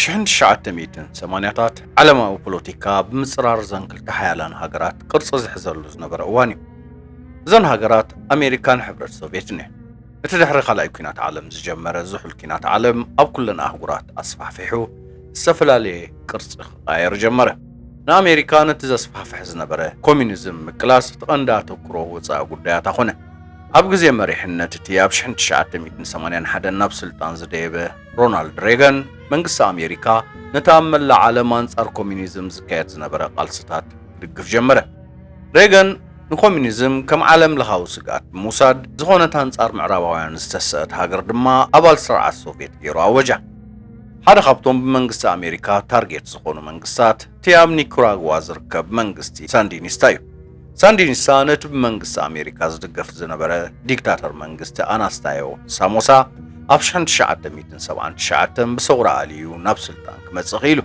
ሽሕን ትሽዓተ ሚእትን ሰማንያታት ዓለማዊ ፖለቲካ ብምፅራር እዘን ክልተ ሓያላን ሃገራት ቅርፂ ዝሕዘሉ ዝነበረ እዋን እዩ። እዘን ሃገራት ኣሜሪካን ሕብረት ሶቪየትን እየን። እቲ ድሕሪ ካልኣይ ኩናት ዓለም ዝጀመረ ዝሑል ኩናት ዓለም ኣብ ኩለን ኣህጉራት ኣስፋሕፊሑ ዝተፈላለየ ቅርጺ ክቃየር ጀመረ። ንኣሜሪካ ነቲ ዘስፋሕፍሕ ዝነበረ ኮሚኒዝም ምቅላስ እቲ ቀንዲ ኣተኩሮ ወጻኢ ጉዳያታ ኮነ። ኣብ ግዜ መሪሕነት እቲ ኣብ ሽሕን ትሽዓተ ሚእትን ሰማንያን ሓደን ናብ ስልጣን ዝደየበ ሮናልድ ሬገን፣ መንግስቲ ኣሜሪካ ነቲ ኣብ መላእ ዓለም ኣንጻር ኮሚኒዝም ዝካየድ ዝነበረ ቃልስታት ክድግፍ ጀመረ። ሬገን ንኮሚኒዝም ከም ዓለምለኻዊ ስግኣት ብምውሳድ፣ ዝኾነት ኣንጻር ምዕራባውያን ዝተሰእት ሃገር ድማ ኣባል ስርዓት ሶቭየት ገይሩ ኣወጃ። ሓደ ካብቶም ብመንግስቲ ኣሜሪካ ታርጌት ዝኾኑ መንግስታት እቲ ኣብ ኒኩራግዋ ዝርከብ መንግስቲ ሳንዲኒስታ እዩ። ሳንዲኒስታ ነቲ ብመንግስቲ ኣሜሪካ ዝድገፍ ዝነበረ ዲክታተር መንግስቲ ኣናስታዮ ሳሞሳ ኣብ ሽሕን ትሽዓተ ሚእትን ሰብዓን ትሽዓተን ብሰውራ ኣልዩ ናብ ስልጣን ክመጽእ ክኢሉ።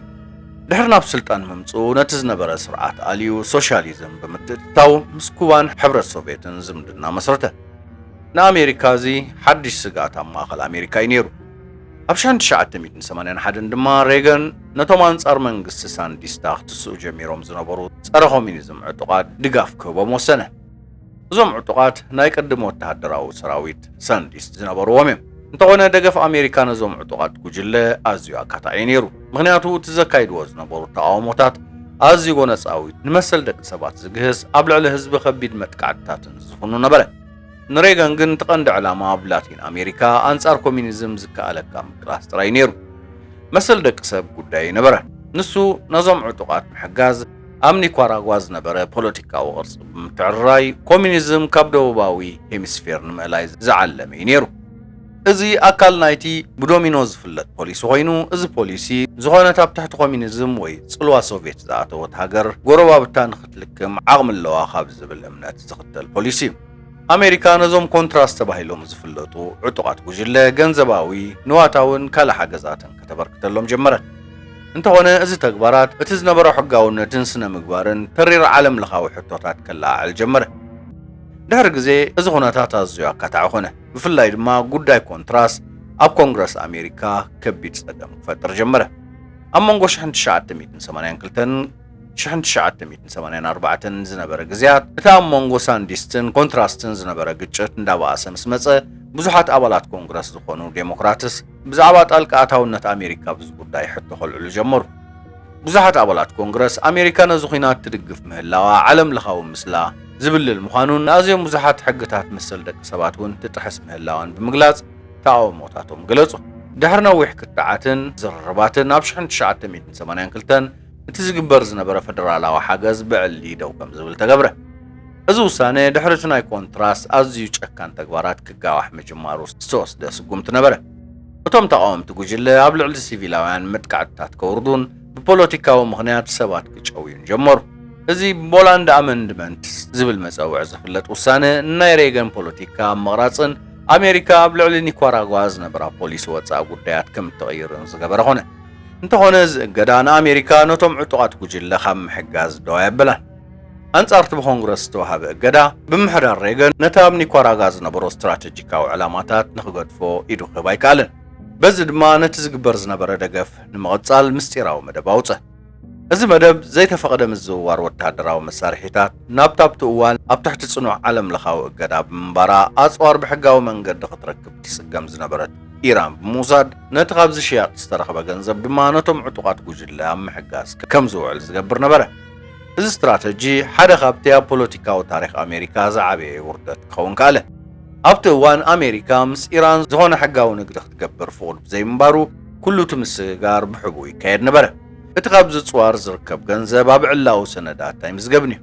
ድሕሪ ናብ ስልጣን ምምጽኡ ነቲ ዝነበረ ስርዓት ኣልዩ ሶሻሊዝም ብምትእትታው ምስ ኩባን ሕብረት ሶቭየትን ዝምድና መስረተ። ንኣሜሪካ እዚ ሓድሽ ስግኣት ኣብ ማእከል ኣሜሪካ እዩ ነይሩ። ኣብ ሻን ትሽዓተ ሚእትን ሰማንያን ሓደን ድማ ሬገን ነቶም ኣንጻር መንግስቲ ሳንዲስታ ክትስኡ ጀሚሮም ዝነበሩ ጸረ-ኮሚኒዝም ዕጡቓት ድጋፍ ክህቦም ወሰነ። እዞም ዕጡቓት ናይ ቅድም ወተሃደራዊ ሰራዊት ሳንዲስት ዝነበርዎም እዮም። እንተኾነ ደገፍ ኣሜሪካ ነዞም ዕጡቓት ጉጅለ ኣዝዩ ኣካታዒ ነይሩ። ምኽንያቱ እቲ ዘካይድዎ ዝነበሩ ተቓውሞታት ኣዝዩ ጎነጻዊት፣ ንመሰል ደቂ ሰባት ዝግህስ፣ ኣብ ልዕሊ ህዝቢ ከቢድ መጥቃዕትታትን ዝፍኑ ነበረ። ንሬገን ግን እቲ ቀንዲ ዕላማ ኣብ ላቲን ኣሜሪካ ኣንጻር ኮሚኒዝም ዝከኣለካ ምቅላስ ጥራይ ነይሩ። መሰል ደቂ ሰብ ጉዳዩ ኣይነበረን። ንሱ ነዞም ዕጡቓት ምሕጋዝ ኣብ ኒኳራጓ ዝነበረ ፖለቲካዊ ቅርጺ ብምትዕርራይ ኮሚኒዝም ካብ ደቡባዊ ሄሚስፌር ንምእላይ ዝዓለመ'ዩ ነይሩ። እዚ ኣካል ናይቲ ብዶሚኖ ዝፍለጥ ፖሊሲ ኮይኑ፣ እዚ ፖሊሲ ዝኾነት ኣብ ትሕቲ ኮሚኒዝም ወይ ጽልዋ ሶቭየት ዝኣተወት ሃገር ጎረባብታ ንኽትልክም ዓቕሚ ኣለዋ ካብ ዝብል እምነት ዝኽተል ፖሊሲ እዩ። ኣሜሪካ ነዞም ኮንትራስ ተባሂሎም ዝፍለጡ ዕጡቓት ጉጅለ ገንዘባዊ፣ ንዋታውን ካልእ ሓገዛትን ከተበርክተሎም ጀመረት። እንተኾነ እዚ ተግባራት እቲ ዝነበሮ ሕጋውነትን ስነ-ምግባርን ተሪር ዓለምለኻዊ ሕቶታት ከለዓዕል ጀመረ። ድሕሪ ግዜ እዚ ኩነታት ኣዝዩ ኣካታዒ ኮነ። ብፍላይ ድማ ጉዳይ ኮንትራስ ኣብ ኮንግረስ ኣሜሪካ ከቢድ ጸገም ክፈጥር ጀመረ። ኣብ መንጎ ሽሕን ትሽዓተ ሚእትን ሰማንያን ክልተን ሽሕን ትሽዓተ ሚእትን ሰማንያን ኣርባዕተን ዝነበረ ግዝያት፣ እቲ ኣብ መንጎ ሳንዲስትን ኮንትራስትን ዝነበረ ግጭት እንዳበኣሰ ምስ መጸ፣ ብዙሓት ኣባላት ኮንግረስ ዝኾኑ ዴሞክራትስ፣ ብዛዕባ ጣልቃ ኣታውነት ኣሜሪካ ኣብዚ ጉዳይ ሕቶ ከልዕሉ ጀመሩ። ብዙሓት ኣባላት ኮንግረስ፣ ኣሜሪካ ነዚ ኲናት ትድግፍ ምህላዋ ዓለም ለኻዊ ምስላ ዝብልል ምዃኑን ንኣዝዮም ብዙሓት ሕግታት መሰል ደቂ ሰባት እውን ትጥሕስ ምህላዋን ብምግላጽ ተቓውሞታቶም ገለጹ። ድሕሪ ነዊሕ ክትዓትን ዝርርባትን ኣብ ሽሕን ትሽዓተ ሚእትን ሰማንያን ክልተን እቲ ዝግበር ዝነበረ ፈደራላዊ ሓገዝ ብዕሊ ደው ከም ዝብል ተገብረ። እዚ ውሳነ ድሕሪ እቲ ናይ ኮንትራስ ኣዝዩ ጨካን ተግባራት ክጋዋሕ ምጅማሩ ዝተወስደ ስጉምቲ ነበረ። እቶም ተቓወምቲ ጉጅለ ኣብ ልዕሊ ሲቪላውያን መጥቃዕትታት ከውርዱን ብፖለቲካዊ ምኽንያት ሰባት ክጨውዩን ጀመሩ። እዚ ቦላንድ ኣመንድመንት ዝብል መጸውዒ ዝፍለጥ ውሳነ ንናይ ሬገን ፖለቲካ ኣብ ምቕራጽን ኣሜሪካ ኣብ ልዕሊ ኒኳራጓ ዝነበራ ፖሊሲ ወጻኢ ጉዳያት ከም እትቕይርን ዝገበረ ኾነ። እንተኾነ እዚ እገዳ ንኣሜሪካ ነቶም ዕጡቓት ጉጅለ ካብ ምሕጋዝ ደው ኣየበላን። ኣንጻር እቲ ብኮንግረስ ዝተዋህበ እገዳ፣ ምምሕዳር ሬገን ነቲ ኣብ ኒኳራጋ ዝነበሮ ስትራተጂካዊ ዕላማታት ንኽገድፎ ኢዱ ክህብ ኣይከኣለን። በዚ ድማ ነቲ ዝግበር ዝነበረ ደገፍ ንምቕጻል ምስጢራዊ መደብ ኣውጸ። እዚ መደብ፣ ዘይተፈቕደ ምዝውዋር ወተሃደራዊ መሳርሒታት ናብታ ኣብቲ እዋን ኣብ ትሕቲ ጽኑዕ ዓለምለኻዊ እገዳ ብምንባራ ኣጽዋር ብሕጋዊ መንገዲ ክትረክብ ትጽገም ዝነበረት ኢራን ብምውሳድ፣ ነቲ ካብዚ ሽያጥ ዝተረኽበ ገንዘብ ድማ ነቶም ዕጡቓት ጉጅለ ኣብ ምሕጋዝ ከም ዝውዕል ዝገብር ነበረ። እዚ ስትራተጂ ሓደ ካብቲ ኣብ ፖለቲካዊ ታሪኽ ኣሜሪካ ዝዓበየ ውርደት ክኸውን ከኣለ። ኣብቲ እዋን ኣሜሪካ ምስ ኢራን ዝኾነ ሕጋዊ ንግዲ ክትገብር ፍቑድ ብዘይምንባሩ ኩሉ እቲ ምስግጋር ብሕቡእ ይካየድ ነበረ። እቲ ካብ ዝጽዋር ዝርከብ ገንዘብ ኣብ ዕላዊ ሰነዳት ኣይምዝገብን'ዩ።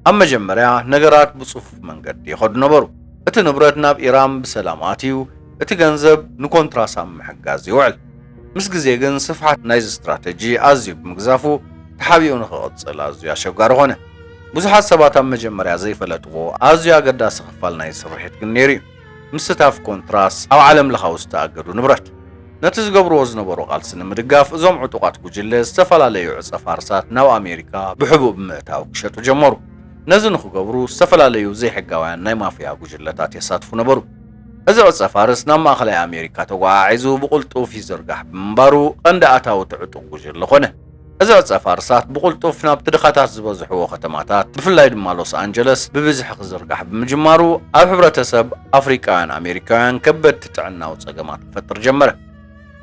ኣብ መጀመርያ ነገራት ብጽፉፍ መንገዲ ይኸዱ ነበሩ። እቲ ንብረት ናብ ኢራን ብሰላም ኣትዩ፣ እቲ ገንዘብ ንኮንትራስ ኣብ ምሕጋዝ ይውዕል። ምስ ግዜ ግን ስፍሓት ናይዚ ስትራተጂ ኣዝዩ ብምግዛፉ ተሓቢኡ ንኽቕጽል ኣዝዩ ኣሸጋሪ ኮነ። ብዙሓት ሰባት ኣብ መጀመርያ ዘይፈለጥዎ ኣዝዩ ኣገዳሲ ክፋል ናይዚ ስርሒት ግን ነይሩ እዩ፣ ምስታፍ ኮንትራስ ኣብ ዓለም ለኻዊ ዝተኣገዱ ንብረት። ነቲ ዝገብርዎ ዝነበሩ ቃልሲ ንምድጋፍ እዞም ዕጡቓት ጉጅለ ዝተፈላለዩ ዕጸ ፋርስታት ናብ ኣሜሪካ ብሕቡእ ብምእታው ክሸጡ ጀመሩ። ነዚ ንኽገብሩ ዝተፈላለዩ ዘይሕጋውያን ናይ ማፍያ ጉጅለታት የሳትፉ ነበሩ። እዚ ቅርጸ ፋርስ ናብ ማእከላይ ኣሜሪካ ተጓዓዒዙ ብቕልጡፍ ይዝርጋሕ ብምንባሩ ቐንዲ ኣታዊ'ቲ ዕጡቕ ጉጅለ ኮነ። እዚ ቅርጸ ፋርሳት ብቕልጡፍ ናብቲ ድኻታት ዝበዝሕዎ ከተማታት ብፍላይ ድማ ሎስ ኣንጀለስ ብብዝሒ ክዝርጋሕ ብምጅማሩ ኣብ ሕብረተሰብ ኣፍሪቃውያን ኣሜሪካውያን ከበድቲ ጥዕናዊ ጸገማት ክፈጥር ጀመረ።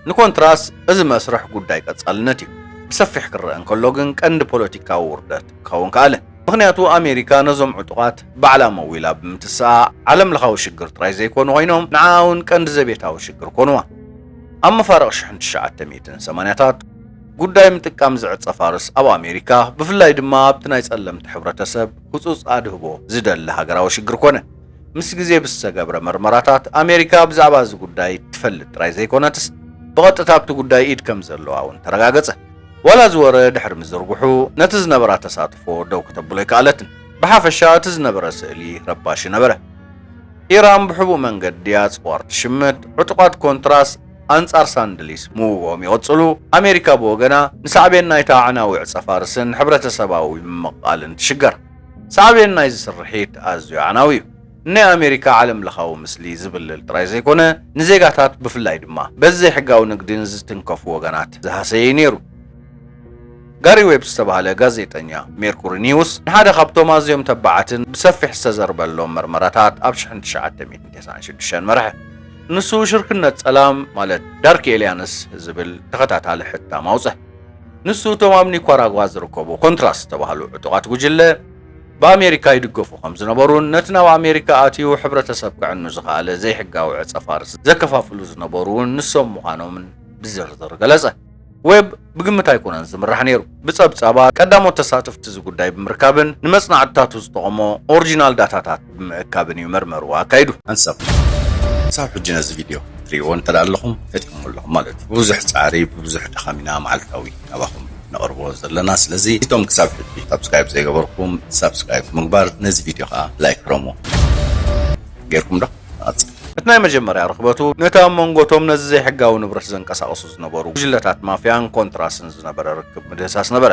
ንኮንትራስ እዚ መስርሕ ጉዳይ ቀጻልነት እዩ። ብሰፊሕ ክረኣ እንከሎ ግን ቀንዲ ፖለቲካዊ ውርደት ክኸውን ከኣለ። ምኽንያቱ ኣሜሪካ ነዞም ዕጡቓት ባዕላ መዊላ ብምትስኣ ዓለምለኻዊ ሽግር ጥራይ ዘይኮኑ ኮይኖም ንዓኣ እውን ቀንዲ ዘቤታዊ ሽግር ኮኑዋ። ኣብ መፋርቕ ሽሕን ትሽዓተ ሚእትን ሰማንያታት ጉዳይ ምጥቃም ዝዕጸፋርስ ኣብ ኣሜሪካ ብፍላይ ድማ ኣብቲ ናይ ጸለምቲ ሕብረተሰብ ህጹጽ ኣድህቦ ዝደሊ ሃገራዊ ሽግር ኮነ። ምስ ግዜ ብዝተገብረ መርመራታት፣ ኣሜሪካ ብዛዕባ እዚ ጉዳይ ትፈልጥ ጥራይ ዘይኰነትስ፣ ብቐጥታ ኣብቲ ጉዳይ ኢድ ከም ዘለዋ እውን ተረጋገጸ። ዋላ እዚ ወረ ድሕሪ ምዝርግሑ፣ ነቲ ዝነበራ ተሳትፎ ደው ከተብሎ ኣይከኣለትን። ብሓፈሻ እቲ ዝነበረ ስእሊ ረባሺ ነበረ። ኢራን ብሕቡእ መንገዲ ኣጽዋር ትሽምት፣ ዕጡቓት ኮንትራስ ኣንጻር ሳንድሊስ ምውግኦም ይቕጽሉ፣ ኣሜሪካ ብወገና ንሳዕቤን ናይታ ኣዕናዊ ዕጸ-ፋርስን ሕብረተሰባዊ ምምቕቓልን ትሽገር። ሳዕቤን ናይዚ ስርሒት ኣዝዩ ኣዕናዊ እዩ። ንናይ ኣሜሪካ ዓለምለኻዊ ምስሊ ዝብልል ጥራይ ዘይኮነ፣ ንዜጋታት ብፍላይ ድማ በዚ ዘይሕጋዊ ንግዲ ንዝትንከፉ ወገናት ዝሃሰየ እዩ ነይሩ። ጋሪ ዌብ ዝተባህለ ጋዜጠኛ ሜርኩሪ ኒውስ ንሓደ ካብቶም ኣዝዮም ተባዓትን ብሰፊሕ ዝተዘርበሎም መርመራታት ኣብ ሽሕን ትሽዓተ ሚእትን ተስዓን ሽዱሽተን መርሐ። ንሱ ሽርክነት ጸላም ማለት ዳርክ ኤልያንስ ዝብል ተኸታታሊ ሕታም ኣውጸ። ንሱ እቶም ኣብ ኒኳራጓ ዝርከቡ ኮንትራስ ዝተባህሉ ዕጡቓት ጉጅለ ብኣሜሪካ ይድገፉ ከምዝነበሩን ነቲ ናብ ኣሜሪካ ኣትዩ ሕብረተሰብ ከዕኑ ዝኸኣለ ዘይሕጋዊ ዕጸፋርስ ዘከፋፍሉ ዝነበሩ እውን ንሶም ምዃኖምን ብዝርዝር ገለጸ። ዌብ ብግምት ኣይኮነን ዝምራሕ ነይሩ። ብጸብጻባት ቀዳሞት ተሳተፍቲ እዚ ጉዳይ ብምርካብን ንመጽናዕትታቱ ዝጠቐሞ ኦርጂናል ዳታታት፣ ብምእካብን እዩ መርመርዋ ኣካይዱ። ሓንሳብ ክሳብ ሕጂ ነዚ ቪድዮ ትርእይዎ እንተድኣ ኣለኹም ፈቲኹምዎ ኣለኹም ማለት እዩ። ብብዙሕ ጻዕሪ ብብዙሕ ድኻም ኢና መዓልታዊ ናባኹም ነቕርቦ ዘለና። ስለዚ እቶም ክሳብ ሕጂ ሳብስክራይብ ዘይገበርኩም ሳብስክራይብ ብምግባር ነዚ ቪድዮ ከኣ ላይክ ግረምዎ። ጌርኩም ዶ? ንቐጽል። እቲ ናይ መጀመርያ ርኽበቱ ነቲ ኣብ መንጎ'ቶም ነዚ ዘይሕጋዊ ንብረት ዘንቀሳቕሱ ዝነበሩ ጉጅለታት ማፍያን ኮንትራስን ዝነበረ ርክብ ምድህሳስ ነበረ።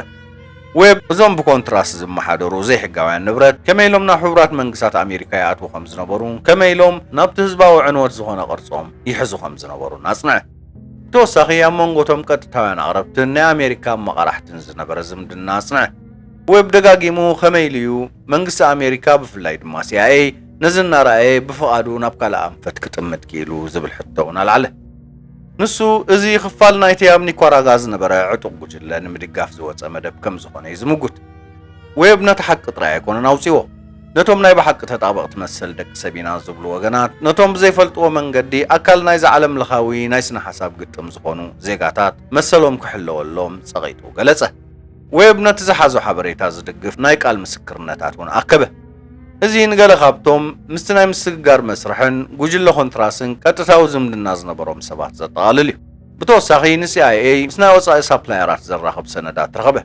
ዌብ፣ እዞም ብኮንትራስ ዝመሓደሩ ዘይሕጋውያን ንብረት ከመይ ኢሎም ናብ ሕቡራት መንግስታት ኣሜሪካ ይኣትዉ ከም ዝነበሩን ከመይ ኢሎም ናብቲ ህዝባዊ ዕንወት ዝኾነ ቅርጾም ይሕዙ ከም ዝነበሩን ኣጽንዐ። ብተወሳኺ ኣብ መንጎ እቶም ቀጥታውያን ኣቕረብትን ናይ ኣሜሪካ ኣመቓራሕትን ዝነበረ ዝምድና ኣጽንዐ። ዌብ ደጋጊሙ ከመይ ኢሉ እዩ መንግስቲ ኣሜሪካ ብፍላይ ድማ ሲኣይኤይ ነዚ እናረኣየ ብፍቓዱ ናብ ካልእ ኣንፈት ክጥምት ክኢሉ ዝብል ሕቶ እውን ኣልዓለ። ንሱ፣ እዚ ኽፋል ናይቲ ኣብ ኒኳራጋ ዝነበረ ዕጡቕ ጉጅለ ንምድጋፍ ዝወጸ መደብ ከም ዝዀነ እዩ ዝምጕት። ዌብ ነቲ ሓቂ ጥራይ ኣይኰነን ኣውጺዎ። ነቶም ናይ ብሓቂ ተጣበቕቲ መሰል ደቂ ሰብ ኢና ዝብሉ ወገናት፣ ነቶም ብዘይፈልጥዎ መንገዲ ኣካል ናይዚ ዓለምለኻዊ ናይ ስነ-ሓሳብ ግጥም ዝዀኑ ዜጋታት መሰሎም ክሕለወሎም ጸቒጡ ገለጸ። ዌብ ነቲ ዝሓዞ ሓበሬታ ዝድግፍ ናይ ቃል ምስክርነታት እውን ኣከበ። እዚ ንገለ ካብቶም ምስቲ ናይ ምስግጋር መስርሕን ጉጅለ ኮንትራስን ቀጥታዊ ዝምድና ዝነበሮም ሰባት ዘጠቓልል እዩ። ብተወሳኺ ንሲኣይኤይ ምስ ናይ ወጻኢ ሳፕላየራት ዘራኽብ ሰነዳት ረኸበ።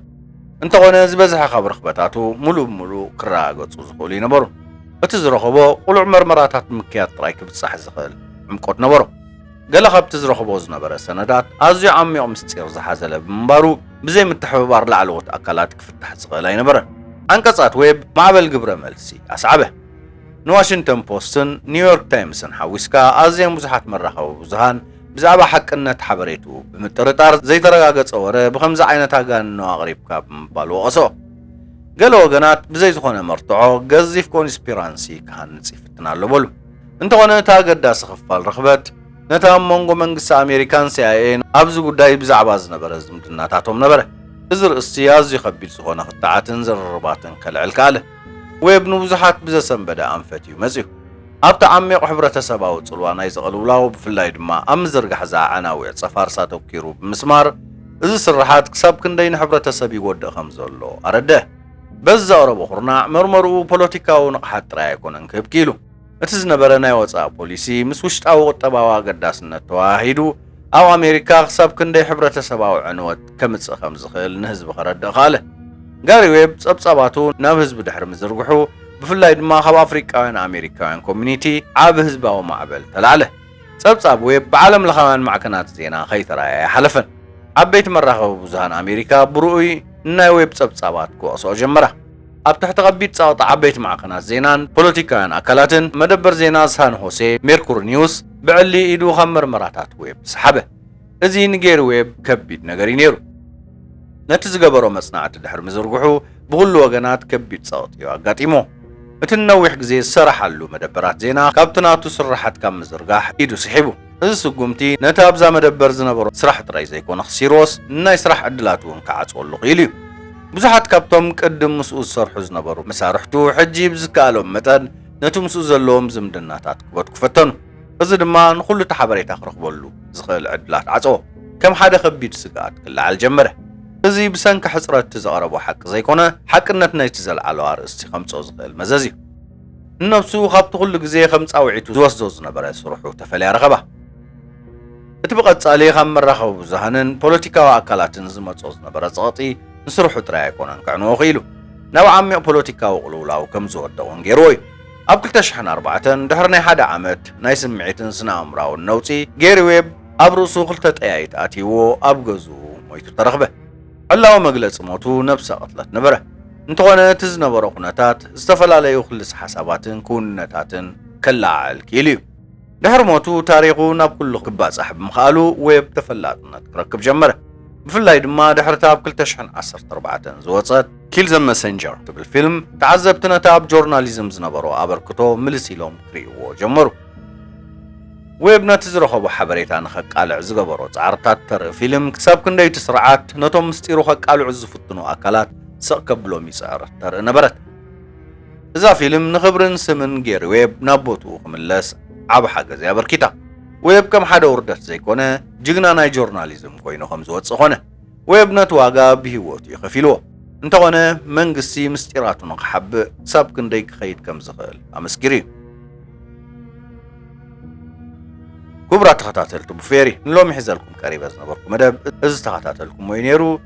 እንተዀነ ዝበዝሐ ካብ ርኽበታቱ ምሉእ ብምሉእ ክረጋገጹ ዝኽእሉ ኣይነበሩን። እቲ ዝረኸቦ ቅሉዕ መርመራታት ብምክያድ ጥራይ ክብጻሕ ዝኽእል ዕምቆት ነበሮ። ገለ ካብቲ ዝረኽቦ ዝነበረ ሰነዳት ኣዝዩ ዓሚቕ ምስጢር ዝሓዘለ ብምንባሩ ብዘይ ምትሕብባር ላዕለዎት ኣካላት ክፍታሕ ዝኽእል ኣይነበረን። ዓንቀጻት ዌብ ማዕበል ግብረ መልሲ ኣስዓበ። ንዋሽንግተን ፖስትን ኒውዮርክ ታይምስን ሓዊስካ ኣዝየን ብዙሓት መራኸቢ ብዙሃን ብዛዕባ ሓቅነት ሓበሬትኡ ብምጥርጣር ዘይተረጋገጸ ወረ ብኸምዚ ዓይነት ኣጋንኖ ኣቕሪብካ ብምባል ወቐስኦ። ገለ ወገናት ብዘይ ዝኾነ መርትዖ ገዚፍ ኮንስፒራንሲ ክሃንጽ ይፍትን ኣሎ በሉ። እንተኾነ እቲ ኣገዳሲ ክፋል ርኽበት ነቲ ኣብ መንጎ መንግስቲ ኣሜሪካን ሲኣይኤን ኣብዚ ጉዳይ ብዛዕባ ዝነበረ ዝምድናታቶም ነበረ። እዚ ርእስቲ ኣዝዩ ከቢድ ዝኾነ ክትዓትን ዝርርባትን ከልዕል ከኣለ። ዌብ ንብዙሓት ብዘሰንበደ ኣንፈት እዩ መጺኡ። ኣብቲ ዓሚቕ ሕብረተሰባዊ ጽልዋ ናይዚ ቅልውላው ብፍላይ ድማ ኣብ ምዝርጋሕ እዛ ኣዕናዊ ዕጸ ፋርስ ኣተኲሩ ብምስማር እዚ ስርሓት ክሳብ ክንደይ ንሕብረተሰብ ይጎድእ ከም ዘሎ ኣረድእ። በዚ ዘቕረቦ ኩርናዕ መርመርኡ ፖለቲካዊ ንቕሓት ጥራይ ኣይኮነን ክህብ ክኢሉ። እቲ ዝነበረ ናይ ወጻኢ ፖሊሲ ምስ ውሽጣዊ ቁጠባዊ ኣገዳስነት ተወሃሂዱ ኣብ ኣሜሪካ ክሳብ ክንደይ ሕብረተሰባዊ ዕንወት ከምጽእ ከም ዝኽእል ንህዝቢ ከረድእ ከኣለ። ጋሪ ዌብ ጸብጻባቱ ናብ ህዝቢ ድሕሪ ምዝርግሑ ብፍላይ ድማ ካብ ኣፍሪቃውያን ኣሜሪካውያን ኮሚኒቲ ዓቢ ህዝባዊ ማዕበል ተላዕለ። ጸብጻብ ዌብ ብዓለምለኻውያን ማዕከናት ዜና ከይተራእየ ኣይሓለፈን። ዓበይቲ መራኸቢ ብዙሃን ኣሜሪካ ብርኡይ ንናይ ዌብ ጸብጻባት ክወቕስኦ ጀመራ። ኣብ ትሕቲ ከቢድ ጸቕጢ ዓበይቲ ማዕከናት ዜናን ፖለቲካውያን ኣካላትን፣ መደበር ዜና ሳን ሆሴ ሜርኩሪ ኒውስ ብዕሊ ኢዱ ካብ መርመራታት ዌብ ሰሓበ። እዚ ንጌሪ ዌብ ከቢድ ነገር እዩ ነይሩ። ነቲ ዝገበሮ መጽናዕቲ ድሕሪ ምዝርግሑ ብዅሉ ወገናት ከቢድ ጸቕጢ እዩ ኣጋጢሞ። እቲ ንነዊሕ ግዜ ዝሰራሓሉ መደበራት ዜና ካብቲ ናቱ ስርሓት ካብ ምዝርጋሕ ኢዱ ስሒቡ። እዚ ስጕምቲ ነቲ ኣብዛ መደበር ዝነበሮ ስራሕ ጥራይ ዘይኰነ ክሲርዎስ ንናይ ስራሕ ዕድላት እውን ክዓጽወሉ ክኢሉ እዩ። ብዙሓት ካብቶም ቅድም ምስኡ ዝሰርሑ ዝነበሩ መሳርሕቱ ሕጂ ብዝከኣሎም መጠን ነቲ ምስኡ ዘለዎም ዝምድናታት ክበትኩ ፈተኑ። እዚ ድማ ንኹሉ እቲ ሓበሬታ ክረኽበሉ ዝኽእል ዕድላት ዓጸዎ። ከም ሓደ ከቢድ ስግኣት ክለዓል ጀመረ። እዚ ብሰንኪ ሕጽረት እቲ ዘቕረቦ ሓቂ ዘይኮነ፣ ሓቅነት ናይቲ ዘልዓሎ ኣርእስቲ ከምጽኦ ዝኽእል መዘዝ እዩ። ንነብሱ ካብቲ ኩሉ ግዜ ከም ጻውዒቱ ዝወስዶ ዝነበረ ስርሑ ተፈልያ ረኸባ። እቲ ብቐጻሊ ካብ መራኸቢ ብዙሃንን ፖለቲካዊ ኣካላትን ዝመጽኦ ዝነበረ ጸቕጢ ንስርሑ ጥራይ ኣይኮነን ከዕንዎ ክኢሉ። ናብ ዓሚቕ ፖለቲካዊ ቅልውላው ከም ዝወድቕ እውን ገይርዎ እዩ። ኣብ ክልተ ሽሕን ኣርባዕተን ድሕሪ ናይ ሓደ ዓመት ናይ ስምዒትን ስነ-ኣእምሮኣውን ነውጺ፣ ጌሪ ዌብ ኣብ ርእሱ ክልተ ጠያይት ኣትይዎ ኣብ ገዝኡ ሞይቱ ተረኽበ። ዕላዊ መግለጺ ሞቱ ነብሰ ቅትለት ነበረ። እንተኾነ እቲ ዝነበሮ ኩነታት ዝተፈላለዩ ክልሰ ሓሳባትን ክውንነታትን ከለዓዕል ክኢሉ'ዩ። ድሕሪ ሞቱ ታሪኹ ናብ ኩሉ ክባጻሕ ብምኽኣሉ ዌብ ተፈላጥነት ክረክብ ጀመረ። ብፍላይ ድማ ድሕሪ'ታ ኣብ ክልተ ሽሕን ዓሰርተ ኣርባዕተን ዝወጸት Kill the Messenger ትብል ፊልም፣ ተዓዘብቲ ነቲ ኣብ ጆርናሊዝም ዝነበሮ ኣበርክቶ ምልስ ኢሎም ክርእይዎ ጀመሩ። ዌብ ነቲ ዝረኸቦ ሓበሬታ ንኸቃልዕ ዝገበሮ ጻዕርታት ተርኢ ፊልም ክሳብ ክንደይ እቲ ስርዓት ነቶም ምስጢሩ ከቃልዑ ዝፍትኑ ኣካላት ስቕ ከብሎም ይጽዕር ተርኢ ነበረት። እዛ ፊልም ንኽብርን ስምን ጌሪ ዌብ ናብ ቦትኡ ክምለስ ዓቢ ሓገዝ እያ ኣበርኪታ። ዌብ ከም ሓደ ውርደት ዘይኮነ ጅግና ናይ ጆርናሊዝም ኮይኑ ከም ዝወጽእ ኮነ። ዌብ ነቲ ዋጋ ብሂወቱ እዩ ከፊልዎ። እንተኾነ መንግስቲ ምስጢራቱ ንኽሓብእ ክሳብ ክንደይ ክኸይድ ከም ዝኽእል ኣመስኪሩ እዩ። ክቡራት ተኸታተልቲ ቡፌሪ ንሎሚ ሒዘልኩም ቀሪበ ዝነበርኩ መደብ እዚ ዝተኸታተልኩሞ እዩ ኔሩ።